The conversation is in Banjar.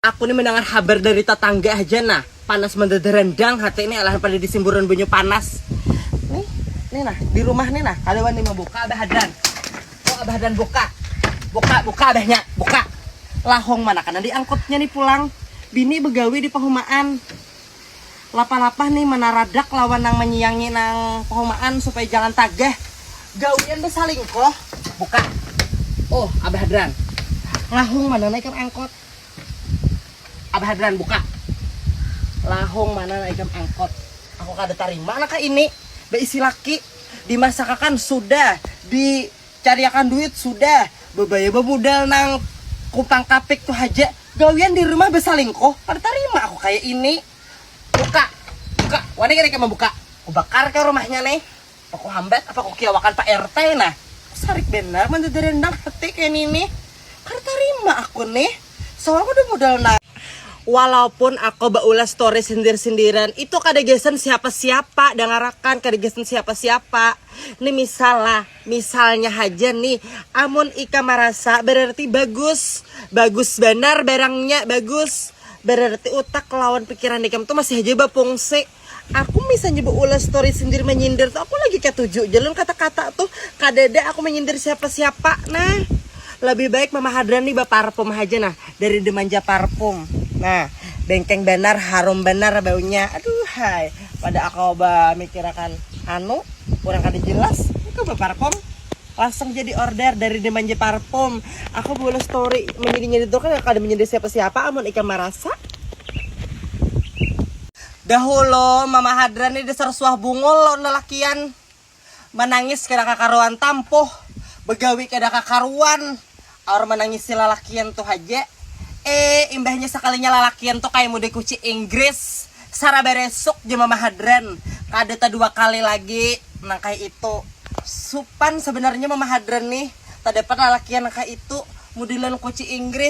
Aku ni mendangar habar dari tatangga haja nah, panas mandada randang hati ni alahan pada disimburan banyu panas. Nih, nih nah, di rumah ni nah kada wani mabuka abah hadan. Tuh abah hadan buka, buka, buka abahnya, buka. Lahong mana kena diangkutnya ni pulang, bini begawi di pahumaan. Lapah-lapah ni manaradak lawan nang manyiangi nang pahumaan supaya jangan tagah gawian basalingkuh, buka. Uh abah hadan, lahong mana naikan angkut. Abah Hadran buka lahung mana ikam angkot aku kada tarima naka ini beisi laki dimasakakan sudah dicariakan duit sudah bebaya bemudal nang kumpang kapik tu haja gawian di rumah besalingkuh kada tarima aku kaya ini buka buka wani kada ikam membuka kubakar kah rumahnya nih. Apa ku hambat, apa ku kiawakan Pak RT nah. Sarik banar mun jadi rendang hati kaya ninih. Kada tarima aku nih. Soal kada modal na. Walaupun ako baulah story sindir-sindiran, itu kada gasan siapa-siapa, dangarakan, kada gasan siapa-siapa. Ni misal lah, misalnya haja nih, amun ikam marasa berarti bagus. Bagus banar barangnya, bagus. Berarti utak lawan pikiran ikam tu masih haja bafungsi. Aku misalnya beulah story sendiri menyindir tuh aku lagi ketuju jalur kata-kata tuh kadada aku menyindir siapa-siapa nah lebih baik Mama Hadran nih baparfum haja nah dari Demanja Parfum nah bengkeng banar harum banar baunya aduhai pada aku bamikirakan anu urang kada jelas aku baparfum langsung jadi order dari Demanja Parfum aku beulah story menyindir-nyindir tuh kan kada menyindir siapa-siapa amun ikam marasa Dahulu mama hadran ni dasar suah bungul lawan lalakian, manangis kada kakaruan tampuh, bagawi kada kakaruan, aur manangisi lalakian tu haja, ee imbahnya sakalinya lalakian tu kaya mudai kuci inggris, sarabar esuk ja mama hadran kada tadua kali lagi nang kaya itu, supan sabanarnya mama hadran nih tadapat lalakian nang kaya itu, mudai lawan kuci inggris.